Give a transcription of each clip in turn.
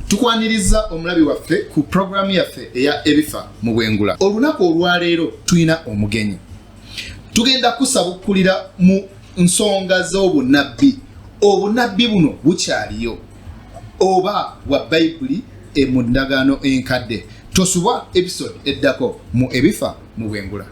tukwaniriza omulabi waffe ku pulogulaamu yaffe eya ebifa mu bwengula olunaku olwaleero tulina omugenyi tugenda kusabukulira mu nsonga z'obunabbi obunabbi buno bukyaliyo oba bwa bayibuli e mu ndagaano enkadde tosubwa episode eddako mu ebifa mu bwengula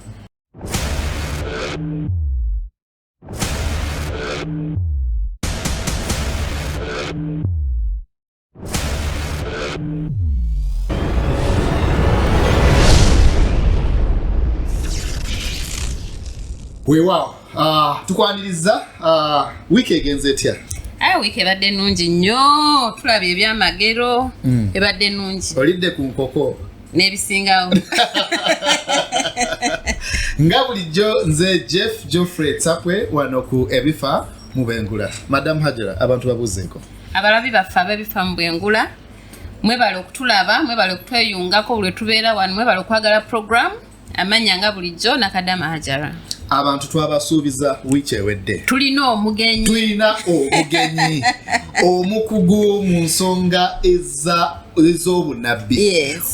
weewaawo uh, ah, tukwaniriza uh, ah, wiiki egenze etya aye wiiki ebadde nnungi nnyo tulaba ebyamagero mm. ebadde nnungi olidde ku nkoko n'ebisingawo nga bulijjo nze jeff geoffrey tsapwe wano ku ebifa mu bengula madamu hajara abantu babuuzeeko abalabi baffe abebifa mu bwengula mwebale okutulaba mwebale okutweyungako buli wetubeera wano mwebale okwagala programu amanya nga bulijjo nakadama hajara abantu twabasuubiza wiiki ewedde tulina omugenyi tulina omugenyi omukugu mu nsonga eza ez'obunabbi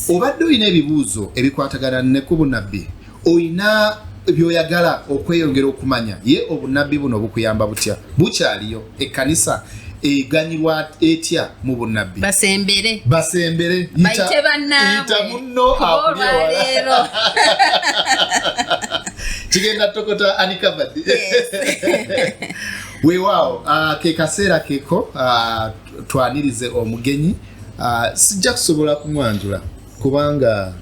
obadde olina ebibuuzo ebikwatagana ne ku bunabbi olina byoyagala okweyongera okumanya ye obunabbi buno bukuyamba butya bukyaliyo ekkanisa eganyirwa etya mu bunabbi basembere basembere bayite bannaabwe munno olwaleero kigenda tokota anikabadi weewaawo uh, ke kaseera keko uh, twanirize omugenyi uh, sijja kusobola kumwanjula kubanga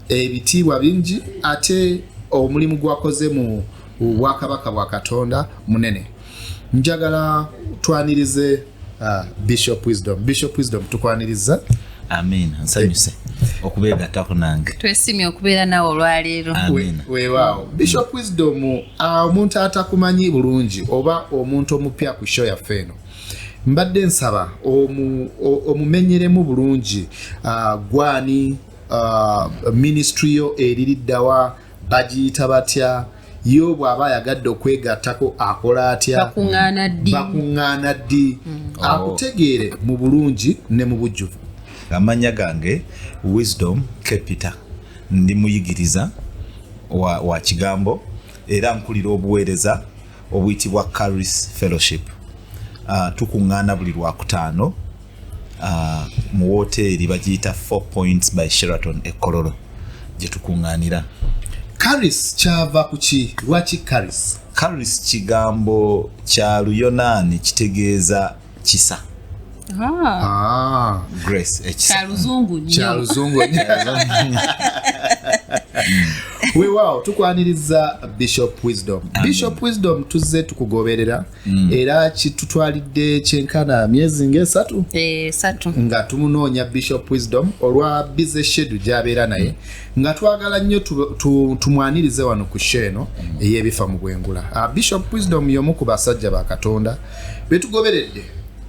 ebitiibwa bingi ate omulimu gwakoze mu bwakabaka bwa katonda munene njagala twanirize uh, bishop wisdom bishop wisdom tukwaniriza amin nsanyuse okubeegattako nange twesimye okubeera nawe olwaleero weewaawo bishop wisdom uh, omuntu atakumanyi bulungi oba omuntu omupya ku sho yaffe eno mbadde nsaba omumenyeremu bulungi uh, gwani uh, ministry yo eririddawa bagiyita batya yo bw'aba ayagadde okwegattako akola atya bakuŋŋaana ddi mm. oh. akutegeere mu bulungi ne mu bujjuvu amannya gange wisdom capita ndi muyigiriza wa, wa kigambo era nkulira obuweereza obuyitibwa caris fellowship uh, tukuŋŋaana buli lwakutaano uh, mu wooteeri bagiyita four points by sheraton ekololo gye tukuŋŋaanira caris kyava ku ki lwaki caris caris kigambo kya luyonaani kitegeeza kisa ah. grace ekisaluzungu eh, kyaluzungu weewaawo tukwaniriza bishop wisdom bishop wisdom tuzze tukugoberera mm. era kitutwalidde kyenkana myezi ngaesatu eh, nga tumunoonya bishop wisdom olwa bize shedu gyabeera naye mm. nga twagala nnyo tumwanirize wano ku sho eno mm. ey'ebifa mu bwengula ah, bishop wisdom y'omu ku basajja ba katonda betugoberedde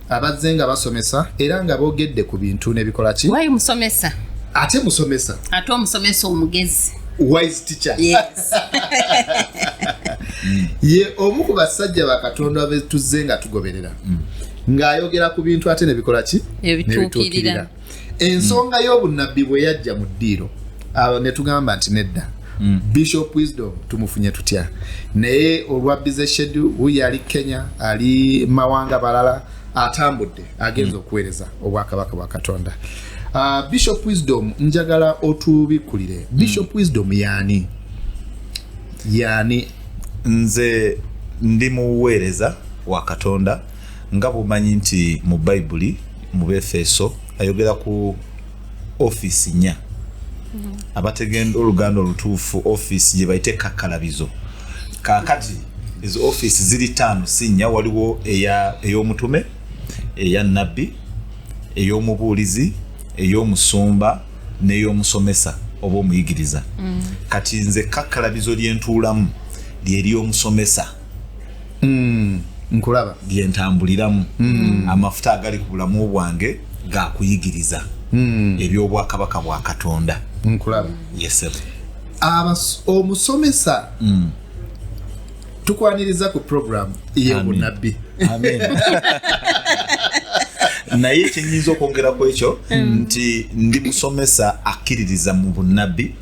abazze nga basomesa era nga bogedde ku bintu nebikola ki wayi musomesa ate musomesa ate omusomesa omugezi wise teacher yes. ye omu ku basajja bakatonda betuzze nga tugoberera mm. ng'ayogera ku bintu ate nebikola ki ebituukirira ensonga mm. y'obunnabbi bwe yajja mu ddiiro awo ne tugamba nti nedda mm. bishop wisdom tumufunye tutya naye olwa bize shedu wuyo ali kenya ali mawanga balala atambudde agenza mm. okuweereza obwakabaka bwa katonda uh, bishop wisdom njagala otubikkulire mm. bishop wisdom yaani yaani nze ndi muweereza wa katonda nga bwomanyi nti mu bayibuli mu befeso ayogera ku ofiisi nya mm-hmm. abategenda oluganda olutuufu ofiisi gye bayite kakkalabizo kaakati ezo ofiisi ziri taano si nnya waliwo ey'omutume eya nabbi ey'omubuulizi ey'omusumba n'ey'omusomesa oba omuyigiriza mm. kati nze kakkalabizo lyentuulamu lyeri omusomesa mm. nkulaba byentambuliramu mm. amafuta agali ku bulamu bwange gakuyigiriza mm. ebyobwakabaka bwa katonda nkulaba yesebe omusomesa mm. tukwaniriza ku program eyobunabbi naye kyenyinza okwongera ku ekyo mm. nti ndi musomesa akkiririza mu bunabbi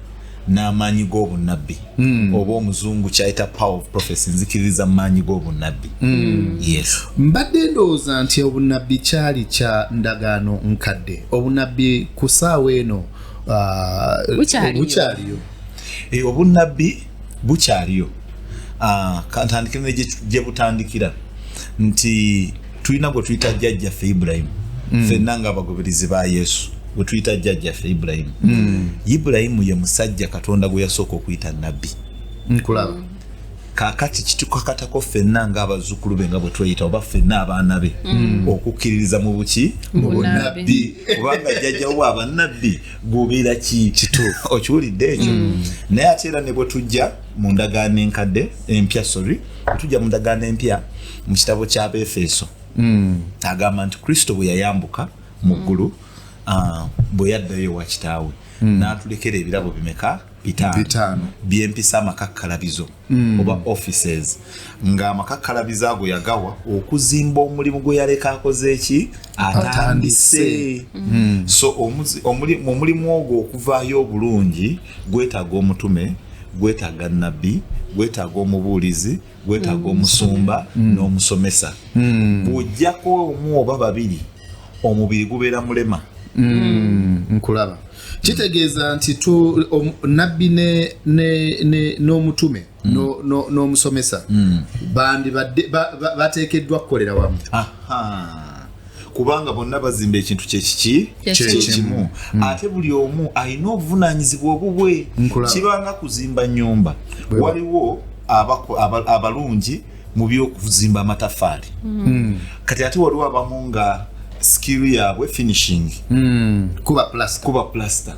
n'amaanyi g'obunnabbi hmm. oba omuzungu kyayita power of prophecy nzikiririza mu maanyi g'obunnabbi hmm. yes mbadde ndowooza nti obunnabbi kyali kya ndagaano nkadde obunnabbi ku saawa eno uh, bukyaliyo eh, obunnabbi bukyaliyo ah, kantandikire gye butandikira nti tulina gwe tuyita jjajjaffe ibulayimu mm. fenna nga abagoberezi ba yesu gwe tuyita jjajjaffe ibulayimu mm. ibulayimu ye musajja katonda gwe yasooka okuyita nabbi nkulaba kakati kitukakatako fenna nga abazukulu be nga bwe tweyita oba fenna abaana be mm. okukkiririza mu buki mu bunabbi kubanga jjajjawo abanabbi gubeera ki kituufu okiwulidde ekyo mm. naye ate era ne bwe tujja mu ndagaano enkadde empya sorry bwe tujja mu ndagaano empya mu kitabo ky'abeefeeso hmm. agamba nti kristo bwe yayambuka mu ggulu ah, bwe yaddayo wa kitaawe hmm. n'atulekera ebirabo bimeka bitaano byempisa amakakkalabizo hmm. oba offices ng'amakakkalabizo ago yagawa okuzimba omulimu gwe yaleka akoze eki atandise so omulimu ogwo okuvaayo obulungi gwetaaga omutume gwetaaga nabbi gwetaaga omubuulizi gwetaaga omusumba mm. n'omusomesa mm. bw'ojjako omu oba babiri omubiri gubeera mulema mm. nkulaba kitegeeza nti nabbi n'omutume n'omusomesa bandibadde bateekeddwa kukolera wamu kubanga bonna bazimba ekintu kyekiki kyekimu hmm. ate buli omu alina obuvunanyizibwa obubwe kibanga kuzimba nyumba waliwo abalungi mu byokuzimba amatafaali hmm. kati ate waliwo abamu nga skill yaabwe finishing hmm. kuba plaster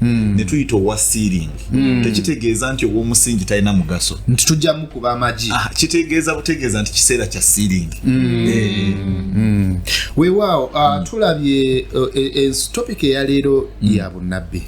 Hmm. netuyita owa sealing hmm. tekitegeeza nti owomusingi talina mugaso nti tujja mukuba amagi ah, kitegeeza butegeeza nti kiseera kya sealing hmm. eh. wewaawo ah, tulabye eh, eh, topic eyaleero ya bunabbi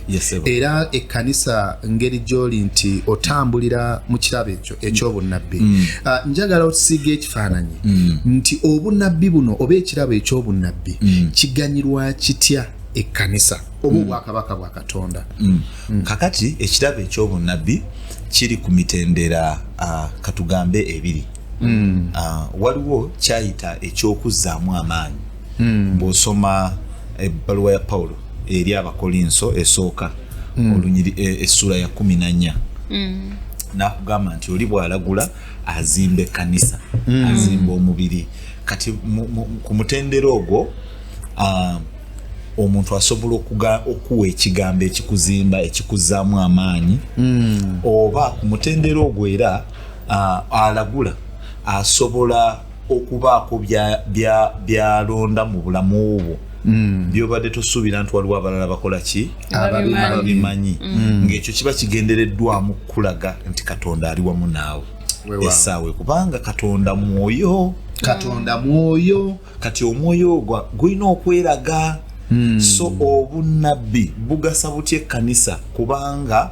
era ekkanisa ngeri gyoli nti otambulira mu kirabo ekyo ekyobunabbi ah, njagala otusiiga ekifaananyi nti obunabbi buno oba ekirabo ekyobunabbi kiganyirwa kitya ekkanisa oba obwakabaka bwa katonda mm. Mm. kakati ekirabo ekyobunabbi kiri ku mitendera uh, katugambe ebiri mm. uh, waliwo kyayita ekyokuzzaamu amaanyi mm. bwosoma ebbaluwa ya pawulo eri abakolinso esooka mm. olunyiri e, essuula ya kumi nanya mm. nakugamba nti oli bwalagula azimba ekkanisa mm. azimba omubiri kati ku mutendera ogwo uh, omuntu asobola okuwa ekigambo ekikuzimba ekikuzaamu amaanyi hmm. oba ku mutendera ogwo era alagula asobola okubaako byalonda mu bulamu bwo Mm. byobadde tosuubira nti waliwo abalala bakola ki ababimanyi mm. mm. ngaekyo kiba kigendereddwamu kukulaga nti katonda ali wamu naawe esaawe kubanga katonda mwoyo katonda mwoyo kati omwoyo ogwa gulina okweraga Hmm. so obunnabbi bugasa butya ekkanisa kubanga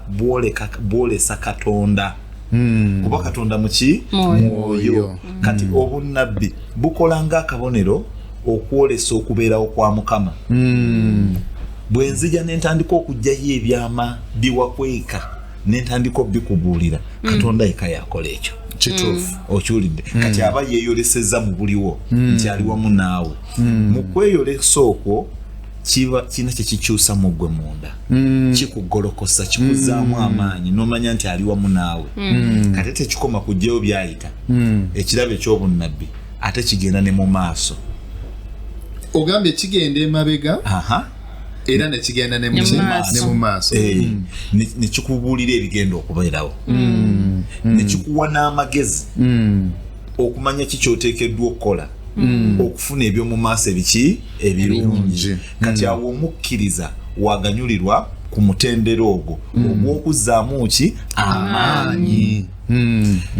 bwolesa katonda hmm. kuba katonda muki mwoyo kati hmm. obunnabbi bukola nga akabonero okwolesa okubeerawo kwa mukama bwe nzija ne ntandika okugyayo ebyama biwakweka nentandika obikubuulira mm. katonda yeka yakola ekyo kituufu mm. okiwulidde mm. kati aba yeyoleseza mu buliwo nti ali wamu naawe mu kweyolesa okwo kiba kirina kyekikyusa mu ggwe munda kikugolokosa kikuzaamu amaanyi nomanya nti ali wamu naawe kate tekikoma kugjayo byayita ekirabo ekyobunnabbi ate kigenda ne mu maaso ogambye kigenda emabega era nekigenda ne mu maaso eh, mm. nekikubuulira ebigenda okubeerawo mm. Mm. nekikuwa n'amagezi okumanya ki kyoteekeddwa okukola okufuna ebyomu maaso ebiki ebirungi kati awo omukkiriza waganyulirwa ku mutendera ogwo ogw'okuzzaamu ki amaanyi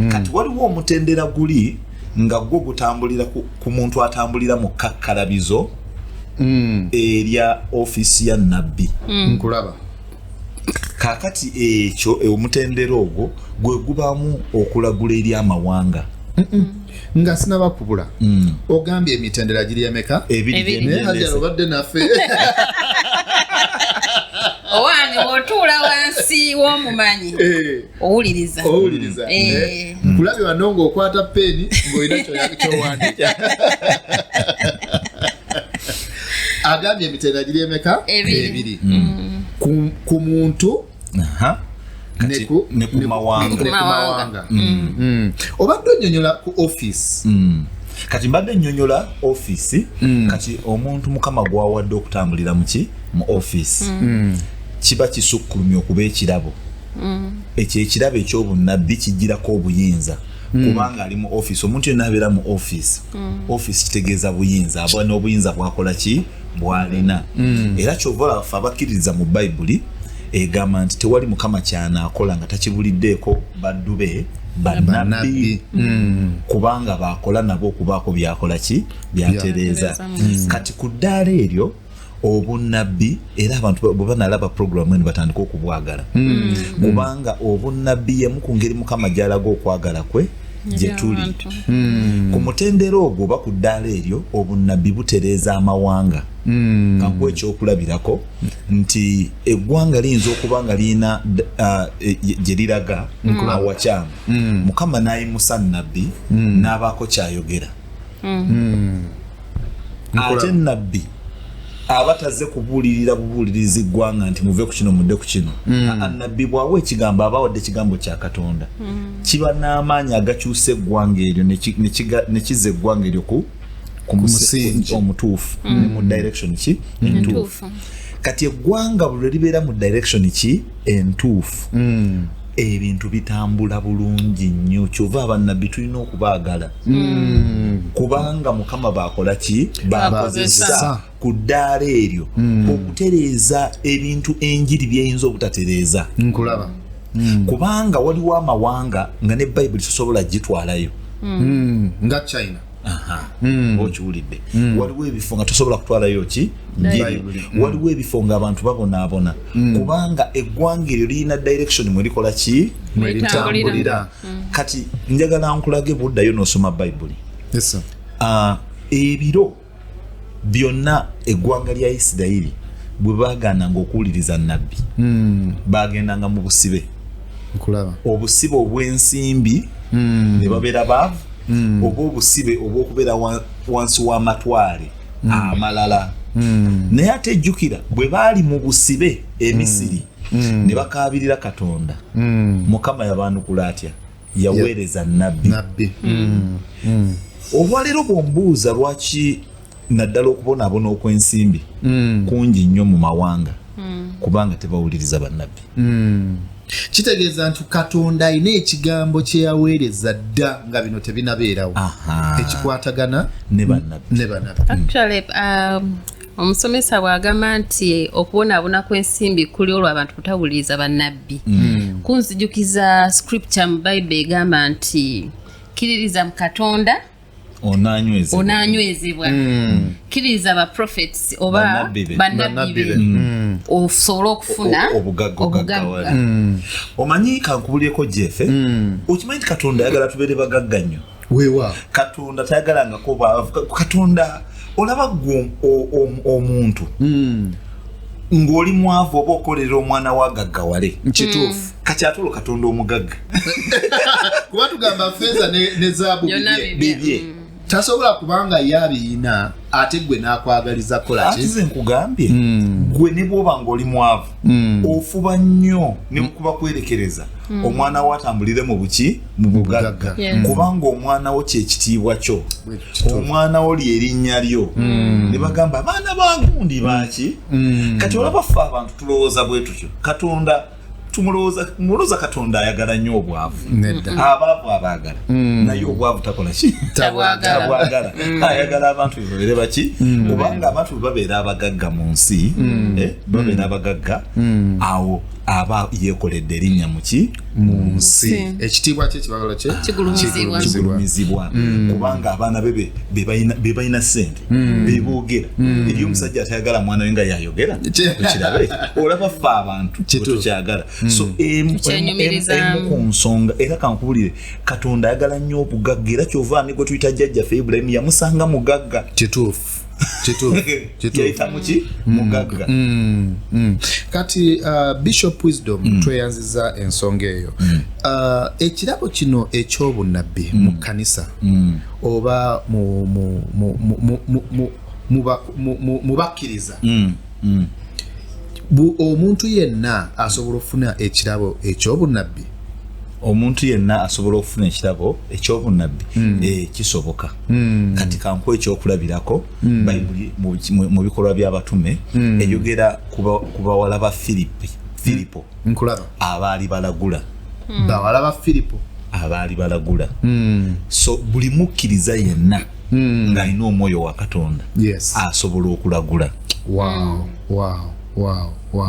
kati waliwo omutendera guli nga gwo gutambulira ku muntu atambulira mu kakkalabizo mm. erya ofisi ya nabbi mm. nkulaba kakati ekyo e, omutendera ogwo gwe gubamu okulagula eri amawanga nga sinaba kubula mm. ogambye emitendera giri emeka ebiriajala obadde naffe owange otuula wansi w'omumanyi eh. owuliriza owuliriza mm. eh. Eh. kulabe wano ngaokwata peeni ngaolina kyowandika agambye emitendera giri emeka ebiri mm. ku muntu nekumawanga mm. obadde onyonyola ku office kati mbadde nyonyola office mm. kati omuntu mukama gwawadde okutambulira muki mu office mm. mm. kiba kisukkulumya okuba ekirabo mm. ekyo ekirabo ekyobunnabbi kijjirako obuyinza mm. kubanga ali mu office omuntu yena abeera mu office mm. office kitegeeza buyinza aba n'obuyinza bwakola ki bwalina era kyova olaffe abakkiririza mu bayibuli egamba nti tewali mukama kyanaakola nga takibuliddeeko baddu be banabbi mm. kubanga bakola nabo okubaako byakola ki byatereeza mm. kati ku ddaala eryo obunnabbi era abantu bwe banalaba puroguramu eno batandika okubwagala hmm. kubanga obunnabbi yemu ku ngeri mukama gyalaga okwagala kwe gyetuli hmm. ku mutendera ogwo oba ku ddaala eryo obunnabbi butereeza amawanga hmm. kankuwa ekyokulabirako nti eggwanga liyinza okuba nga lirina uh, e, gye liraga awakyamu mukama n'ayimusa nnabbi n'abaako kyayogera ate nabbi aba taze kubuulirira bubuuliriza eggwanga nti muve ku kino mudde ku kino mm. nabbi bwawa ekigambo aba wadde ekigambo kya katonda mm. kiba n'amaanyi agakyusa eggwanga eryo ne kiza eggwanga eryo ku ku musingi omutuufu mm. ne mu direction ki entuufu kati eggwanga buli lwe libeera mu direction ki entuufu ebintu bitambula bulungi nnyo kyova abannabbi tulina okubaagala hmm. kubanga mukama bakola ki bakozesa ku ddaala eryo hmm. okutereeza ebintu enjiri byeyinza obutatereeza nkulaba hmm. kubanga waliwo amawanga nga ne bayibuli sosobola gitwalayo nga china hmm. okiwulidde hmm. waliwo ebifo nga tosobola kutwalayo ki njiri hmm. waliwo ebifo nga abantu babonaabona kubanga eggwanga eryo lirina direction mwerikola ki mweritambulira kati njagala nkulage buddayo nosoma bayibuli ah, ebiro byonna eggwanga lya isirayiri bwe bagananga okuwuliriza nabbi bagendanga mu busibe obusibe obw'ensimbi hmm. ne babeera baavu hmm. oba obusibe obw'okubeera wansi w'amatwale hmm. amalala naye ate ejjukira bwe baali mu busibe emisiri ne bakaabirira katonda mukama yabaanukula atya yaweereza nabbi olwaleero bwombuuza lwaki naddala okubonaabona okw'ensimbi mm. kungi nnyo mu mawanga mm. kubanga tebawuliriza bannabbi mm. kitegeeza nti katonda alina ekigambo kyeyaweereza dda nga bino tebinabeerawo ekikwatagana ne bannabbi um, omusomesa bw'agamba nti okubonaabona kw'ensimbi kuli olwo abantu kutawuliriza bannabbi mm. kunzijukiza scripture mu bayibuli egamba nti kiririza mu katonda onanywezebwa mm. kiriza ba prophets oba banabbi be mm. mm. osobole okufuna obugagga omanyi kankubulyeko jefe okimanyi nti katonda ayagala tubeere bagagga nnyo wewa katonda tayagalangako katonda olaba gwe omuntu ng'oli mwavu oba okolera omwana wa gaggawale kituufu mm. kati ate olwo katonda omugagga kuba tugamba feeza ne zaabu bibye mm. tasobola kubanga ye abiyina ate gwe n'akwagaliza kolakize nkugambye mm. gwe ne bwoba ng'oli mwavu ofuba nnyo ne mukuba kwerekereza omwana wo atambulire mu buki mubugagga mm. kubanga omwana wo kyekitiibwa kyo omwana wo lyerinnya lyo mm. ne bagamba abaana bagundi baki mm. kati olaba ffe abantu tulowooza bwe tutyo katonda tumulowooza katonda ayagala nnyo obwavu abaavu abaagala naye obwavu takola ki tabwagala ayagala abantu bebabeere baki kubanga abantu bebabeera abagagga mu nsi eh, babeera abagagga awo aba yekoledde erinnya muki mu nsi ekitiibwa kye kibagala kye kigulumizibwa mm. kubanga abaana be be balina sente mm. beboogera mm. eri omusajja atayagala mwana we nga yayogera okirabe olaba fe abantu kyetukyagala so emu ku nsonga era kankubulire katonda ayagala nnyo obugagga era kyova ni gwe tuyita jjajjafe ibulayimu yamusanga mugagga kituufu mugagga mm, mm. kati uh, bishop wisdom mm. tweyanziza ensonga eyo mm. uh, ekirabo kino ekyobunabbi mm. mu kkanisa mm. oba mu bakkiriza mm. mm. omuntu yenna asobola okufuna ekirabo ekyobunabbi omuntu yenna asobola okufuna ekirabo ekyobunabbi mm. eh, kisoboka Hmm. kati kankuwa ekyokulabirako hmm. bayibuli mu bikolwa by'abatume hmm. eyogera ku bawala ba firipi firipo abaali balagula bawala ba firipo abaali balagula so buli mukkiriza yenna ng'alina omwoyo wa katonda asobola okulagula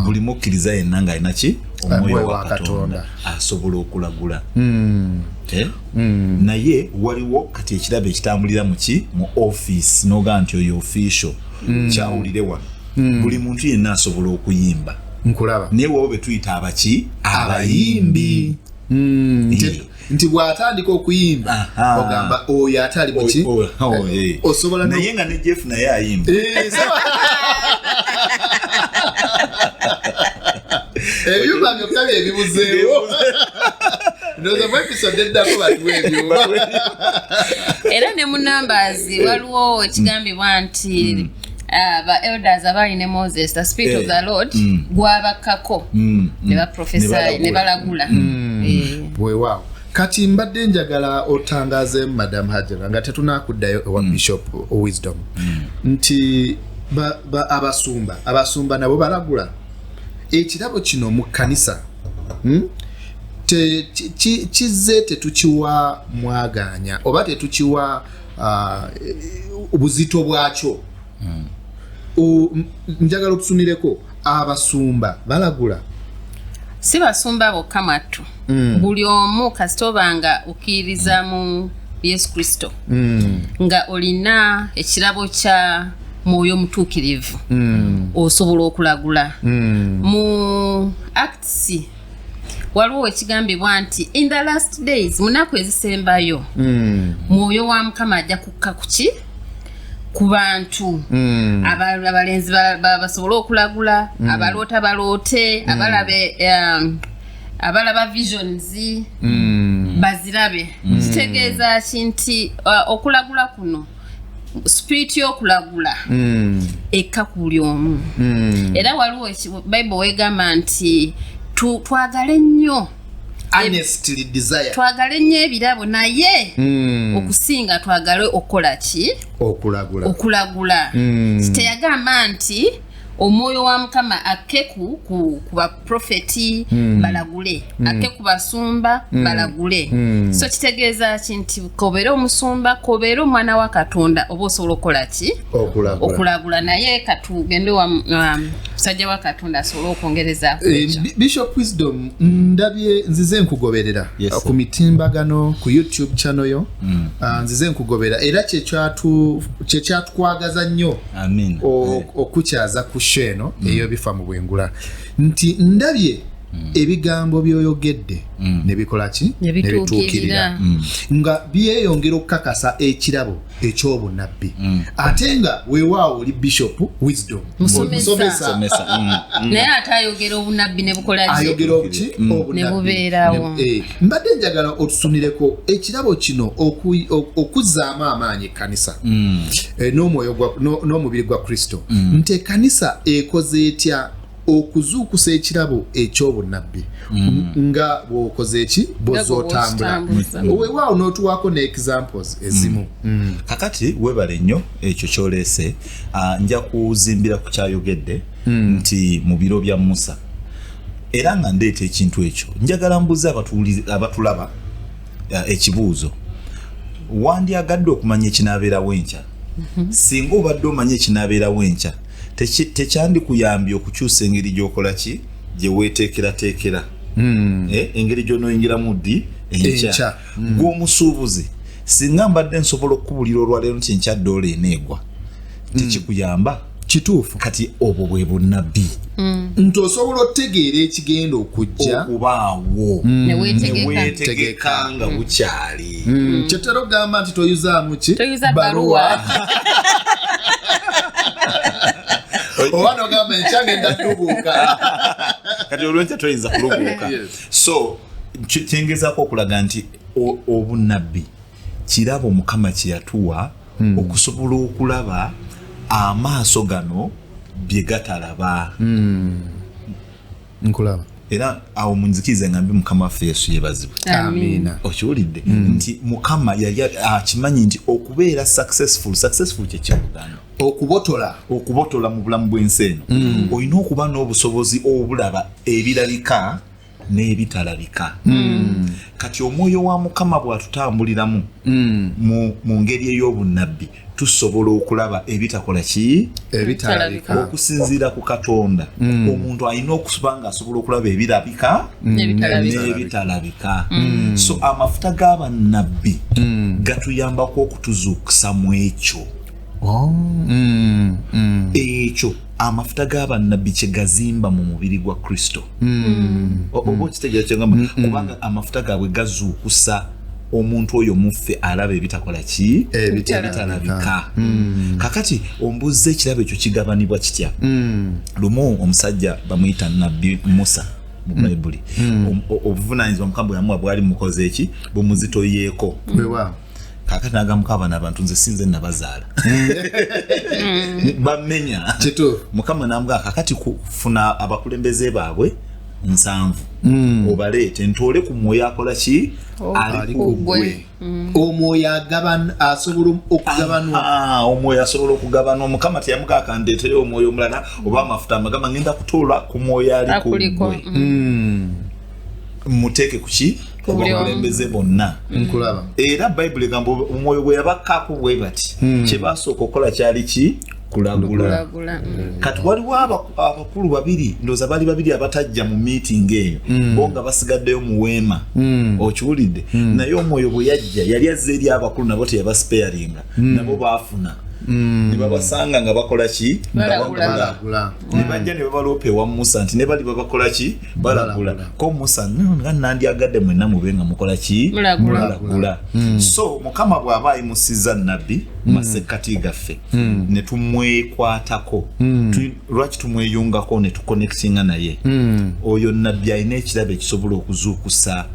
buli mukkiriza yenna ng'alina ki omwoyo wa katonda asobola okulagula eh? Mm. naye waliwo kati ekirabo ekitambulira muki mu office noga nti oyo official mm. kyawulire wano mm. buli muntu yenna asobola okuyimba nkulaba naye wawo betuyita abaki abayimbi mm. nti bwatandika okuyimba ogamba oyo ate ali muki oh, oh, oh, eh, eh. osobola naye nga ne jeff naye ayimba eh, ebyuma byokka byebibuzeewo era ne mu numbers waliwo ekigambibwa nti mm. Uh, ba elders abaali ne moses the spirit of eh, the lord mm. gwabakkako mm, mm. ne baprofesayo ne balagula eh. wewaawo kati mbadde njagala otangaze madam hajara nga tetunakuddayo ewa bishop wisdom nti abasumba abasumba nabo balagula ekirabo kino mu kkanisa hmm, kizze tetukiwa mwagaanya oba tetukiwa uh, buzito bwakyo hmm. njagala otusumireko abasumba balagula si basumba bokka mwattu mm. buli omu kasita obanga okkiririza mu yesu kristo mm. nga olina ekirabo kya mwoyo mutuukirivu mm. osobola okulagula mm. mu acts waliwo wekigambibwa nti in the last days munaku ezisembayo mm. mwoyo wa mukama ajja kukka kuki ku bantu hmm. abalenzi basobole okulagula hmm. abaloota baloote hmm. abalabe um, abalaba visions mm. bazirabe mm. kitegeeza ki nti uh, okulagula kuno spirit y'okulagula mm. ekka ku buli omu mm. era waliwo bible wegamba nti twagale nnyo twagale nnyo ebirabo naye mm. okusinga twagale okukola ki okulagula okulagula mm. teyagamba nti omwoyo wa mukama akke ku, ku, ku baprofeti mm. balagule mm. akke ku basumba mm. balagule mm. so kitegeeza ki nti kobeera omusumba kobeera omwana wa katonda oba osobola okukola ki okulagula naye katugende wa um, musajja um, wa katonda asobole okwongereza eh, bishop wisdom ndabye nzize nkugoberera yes, ku mitimbagano ku youtube channel yo mm. uh, nzize nkugobera era kyekyatukwagaza nnyo okukyaza ku sho eno mm. eyobifa mu bwengula nti ndabye mm. ebigambo byoyogedde mm. nebikolaki nebituukirira nga byeyongera okukakasa ekirabo ekyobunabbi ate nga wewaawo oli bishop wisdom naye ate ayogera obunabbi nebukolayogera obuki obunabinebubeerawo eh, mbadde njagala otusunireko ekirabo kino okuzaamu amaanyi kanisa mm. eh, n'omubiri gwa kristo mm. nti ekanisa ekoze etya okuzuukusa ekirabo eky'obunnabbi mm. nga bwokoze eki boza otambula wewaawo n'otuwaako ne examples ezimu mm. Mm. kakati webale nnyo ekyo kyoleese ah, nja kuzimbira ku kyayogedde nti mu biro bya musa era nga ndeeta ekintu ekyo njagala mbuze abatulaba eh, ekibuuzo wandyagadde okumanya ekinaabeerawo enkya mhm. singa obadde omanya ekinaabeerawo enkya tekyandikuyambye okukyusa engeri gyokola ki gyeweteekerateekera hmm. eh, engeri gyonoyingiramu ddi enkya hmm. gwomusuubuzi singa mbadde nsobola okukubulira olwaleero nti enkya doola eneegwa hmm. tekikuyamba kituufu kati obwo bwe bunabbi mm. nti osobola otegeera ekigenda okujja okubaawo mm. newetegeka nga mm. bukyali kyetera ogamba nti toyuzaamu ki baruwa oba nogamba enkyange ndatubuuka kati olwenkya toyinza kulubuuka so kyengezako okulaga nti obunabbi kirabo mukama kyeyatuwa mm. okusobola okulaba amaaso gano byegatalaba mm. nkulaba era awo munzikiriza ngambi mukama waffe yesu yebazibwe okiwulidde hmm. nti mukama yali akimanyi ah, nti okubeera successful successful kyekyobuganda okubotola okubotola mu bulamu bwensi eno hmm. olina okuba n'obusobozi obulaba ebirabika n'ebitalabika mm. kati omwoyo wa mukama bw'atutambuliramu mm. mu ngeri ey'obunnabbi tusobola okulaba ebitakola ki ebitalabika okusinziira ku katonda mm. omuntu alina okuba nga asobola okulaba ebirabika mm. n'ebitalabika mm. so amafuta g'abannabbi gatuyambako okutuzuukusa mu ekyo oh. ekyo amafuta g'abannabbi kye gazimba mu mubiri gwa kristo hmm. oba hmm. okitegeera kyegamba hmm, kubanga amafuta gaabwe gazuukusa omuntu oyo muffe alaba ebitakola ki ebitalabika kakati ombuuzza ekirabo ekyo kigabanibwa kitya lumu omusajja bamuyita nabbi musa mu mm. bayibuli mm. obuvunanyizibwa mukama bweyamuwa bwali mukoze eki bumuzitoyeeko kakati nagamuka abana abantu nze sinze nabazaala mm. bamenya mukama nambwa kakati kufuna abakulembeze baabwe nsanvu mm. obaleete ntoole ku mwoyo akola ki oh, ali kugwe mm. omwoyo agabana asobola okugabanwa ah, ah, omwoyo asobola okugabana omukama teyamugaka ndeetere omwoyo omulala oba amafuta amagama ngenda kutoola ku mwoyo ali kugwe muteeke kuki obakulembeze bonna nkulaba era bayibuli egamba omwoyo gwe yabakkaako bwe bati hmm. kye basooka okukola kyali ki kulagula hmm. kati waliwo abakulu babiri ndooza bali babiri abatajja mu miitingi eyo hmm. bo nga basigaddeyo mu weema okiwulidde naye omwoyo bwe yajja yali azze eri abakulu nabo teyabasipeyaringa nabo baafuna Mm. nebabasanga nga bakolaki nebajja nebabaloopa ewa musa nti nebali babakolaki balagula ko musa nga nandyagadde mwenna mube nga mukola ki mulagula hmm. so mukama bw'aba ayimusiza nabbi hmm. masekkati gaffe hmm. ne tumwekwatako lwaki tumweyungako ne tukonectinga naye oyo nabbi alina ekirabo ekisobola okuzuukusa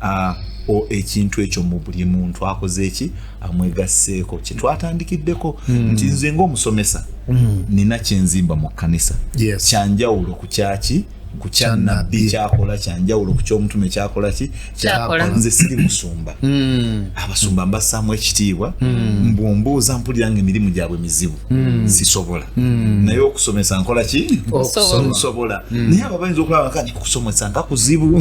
uh, o ekintu ekyo mu buli muntu akoze eki amwegasseeko kyetwatandikiddeko mm. nti nze ngaomusomesa mm. nina kyenzimba mu kkanisa yes. kyanjawulo ku kyaki ku kyanabbi kyakola kyanjawulo ku kyomutume kyakola ki kyakola nze siri musumba mm. abasumba mbassaamu ekitiibwa mm. mbumbuuza mpulira nga emirimu gyabwe mizibu Hmm. sisobola hmm. naye okusomesa nkola ki nsobola hmm. naye abo bayinza okulaba kati okusomesa nga kuzibu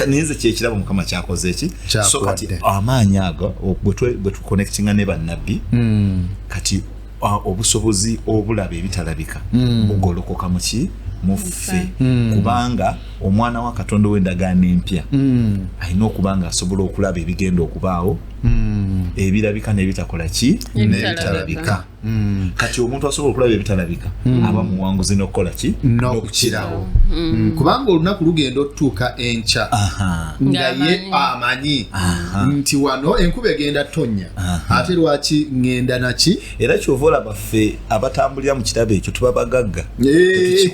naye nze kyekirabo mukama kyakoze eki so kati amaanyi ago bwe tuconnectinga ne bannabbi kati obusobozi obulaba ebitalabika bugolokoka muki muffe kubanga omwana wa katonda ow'endagaano empya alina okuba nga asobola okulaba ebigenda okubaawo hmm. ebirabika nebitakola ki nebitalabika hmm. kati omuntu asobola okulaba ebitalabika hmm. aba muwanguzi nokukola ki nokukirawo kubanga olunaku lugenda otutuuka enkya nga ye amanyi nti wano enkuba egenda tonya ate lwaki ngenda naki era kyova olaba ffe abatambulira mu kirabo ekyo tuba bagagga eh.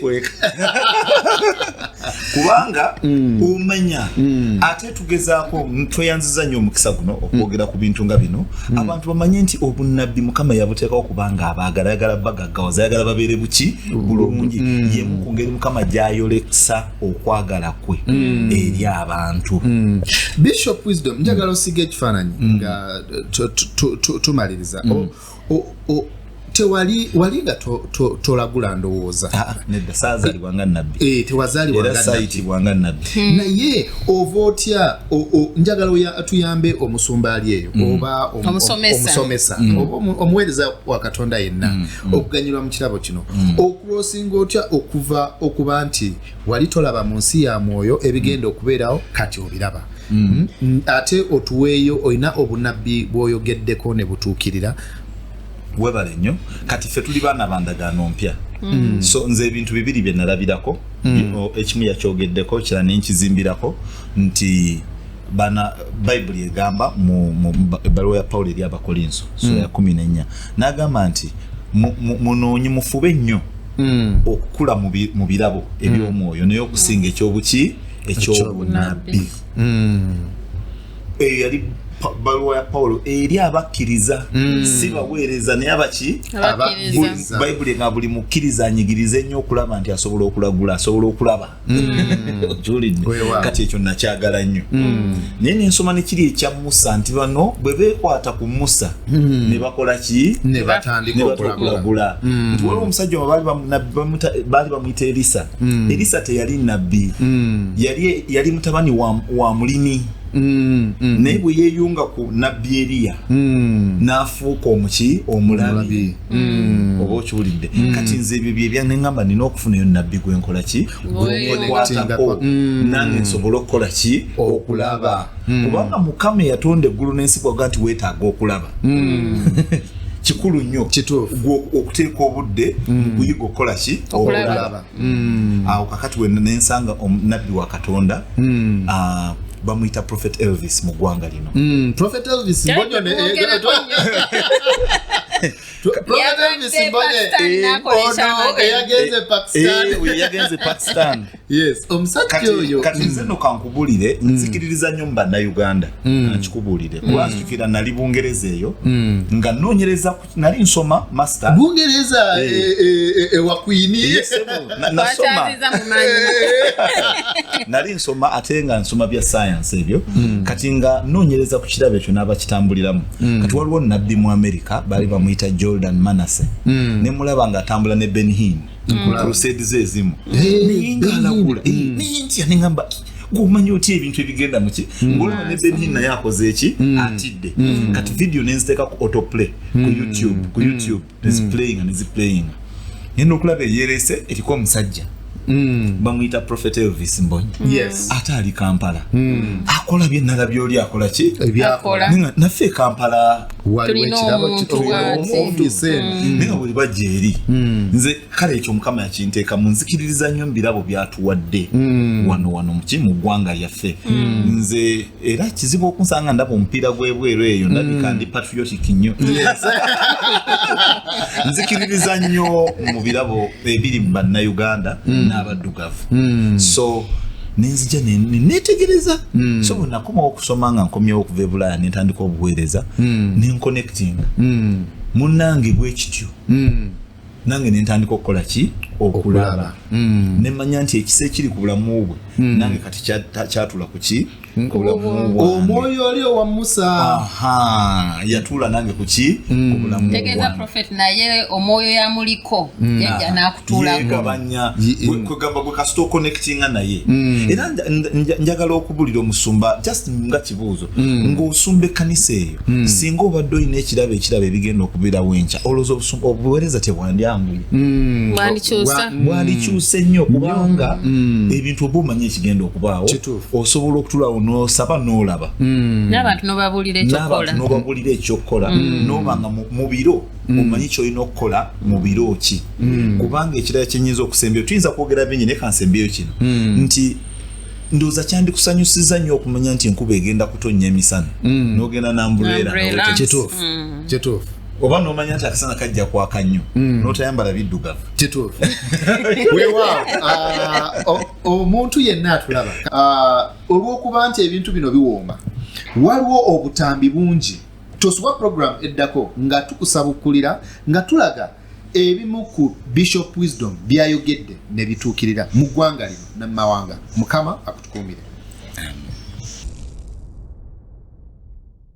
kubanga omanya ate tugezaako tweyanziza nnyo omukisa guno okwogera ku bintu nga bino hmm. abantu bamanye nti obunnabbi mukama yabuteekawo kubanga abaagala yagala bagaggawaza yagala babeere buki bulungi hmm. yemu ku ngeri mukama gyayoleksa okwagala kwe hmm. eri abantu bishop wisdom njagala osiga ekifaananyi nga tumaliriza oh, tewali wali nga tolagula ndowooza ah, nedda saazalibwa nga nabbi eh, tewazalibwa sayitibwa nga nabbi hmm. naye ova otya njagala tuyambe omusumba ali eyo hmm. oba omusomesa hmm. oba omuweereza wa katonda yenna okuganyulwa mu kirabo kino okulosinga otya okuva okuba nti wali tolaba mu nsi ya mwoyo ebigenda okubeerawo kati obiraba mm. Mm, ate otuweeyo olina obunabbi bwoyogeddeko ne butuukirira webale nnyo kati ffe tuli baana bandagaano mpya mm. so nze ebintu bibiri bye nalabirako ekimu yakyogeddeko kira nenkizimbirako nti bana bayibuli egamba mu ebbaluwa ya pawulo eri abakolinso so ya kumi nenya nagamba nti munoonyi mufube nnyo hmm. okukula mu birabo eby'omwoyo naye okusinga ekyobuki ekyobunabbi eyo yali baluwa ya pawulo eri abakkiriza hmm. si baweereza naye abaki bayibuli nga buli mukkiriza anyigirize nnyo okulaba nti asobola okulagula asobola okulaba kati ekyo nakyagala nnyo naye nensoma nekiri ekya musa nti bano bwe bekwata ku musa hmm. ne bakola ki nebatandikaokulagula hmm. nti waliwo omusajja baali bamuyita elisa hmm. elisa teyali nabbi yali mutabani wa mulimi Mm, mm. naye bwe yeeyunga ku nabbi eriya mm. n'afuuka omuki omulabi Mm. oba okiwulidde mm. kati nze ebyo byebyaneamba nina okufunayo nabbi gwenkola ki gwekwatako mm. nange nsobole okukola ki okulaba kubanga mukama eyatonda eggulu n'ensi gwaga nti wetaaga okulaba kikulu nnyo okuteeka obudde mm. mukuyiga okukola ki okulaba mm. awo kakati wena nensanga nabbi wa katonda mm. uh, bamuyita prophet elvis mu ggwanga lino mm, prophet elvis mbonyo ne eh, eh, prophet elvis mbonye eh, ono oh, eyagenze pakistan eyagenze pakistan yes omusajja oyo kati nze mm. no kankubulire mm. nzikiririza nnyo mu bannauganda mm. nkikubulire kuba nzijukira nali bungereza eyo nga noonyereza ku nali nsoma master bungereza eh. eh, eh, ewakwini nasoma nali nsoma ate nga nsoma bya science ebyo hmm. kati nga nonyereza ku kirabo ekyo n'abakitambuliramu hmm. kati waliwo nabbi mu america baali bamuyita jordan manase hmm. ne mulaba nga atambula ne benhin nkulusedize ezimu naye nga alakula naye ntya nengamba gwomanyi otya ebintu ebigenda muki mm. ngolaba ne benhin naye akoze eki mm. atidde mm. kati vidiyo nenziteeka ku autoplay ku youtube ku youtube neziplayinga neziplayinga naye nokulaba eyerese eriko omusajja Mm. bamuyita prophet elvis mbonyi mm. yes. ate ali kampala mm. akola byenala byoli akola ki naffe e kampala waliwo ekirabo kituyomumpisenaye hmm. nga buli bajja eri hmm. nze kale ekyo mukama yakinteeka mu nzikiririza nnyo mu birabo byatuwadde hmm. wano wano muki mu ggwanga lyaffe nze era kizibu okunsanga ndaba omupiira gw'ebweru eyo ndabika ndi patriotic nnyo nzikiririza nnyo mu birabo ebiri mu bannayuganda hmm. n'abaddugavu hmm. so nenzija netegereza hmm. so bwenakomawo okusoma nga nkomyewo okuva ebulaaya nentandika obuweereza nenkonectinga munange bwekityo nange nentandika okukola ki okulaba nemanya nti ekisa ekiri ku bulamu bwe nange kati kyatula kuki omwoyo oli owa musa yatuula nange kuki mm. tegeeza profet naye omwoyo yamuliko mm. yajja nakutulagabanya mm. kwegamba gwe kasita oconnectinga naye era njagala okubulira omusumba just nga kibuuzo ng'osumba ekkanisa eyo singa obadde olina ekirabo ekirabo ebigenda okubeerawo enkya olowooza obusumba obuweereza tebwandyanguye bwandikyuse nnyo kubanga ebintu oba omanya ekigenda okubaawo osobola okutulawo nosaba nolaba mm. nabantu nobabulira ekyokukola mm. noba nga mubiro mm. omanyi kyolina okukola mubiro ki kubanga ekirala kyenyinza okusembyeyo tuyinza kwogera bingi naye kansembyeyo kino nti ndoza kyandikusanyusiza nnyo okumanya nti enkuba egenda kutonnya emisana nogenda nambuleera kyetuufu oba nomanya nti akasana kajja kwaka nnyo notayambala biddugavu kituufu wewaawo ah, oh, omuntu yenna atulaba ah, olw'okuba nti ebintu bino biwooma waliwo obutambi bungi tosubwa puroguramu eddako nga tukusabukulira nga tulaga ebimu ku bishop wisdom byayogedde ne bituukirira mu ggwanga lino ne mu mawanga mukama akutukuumire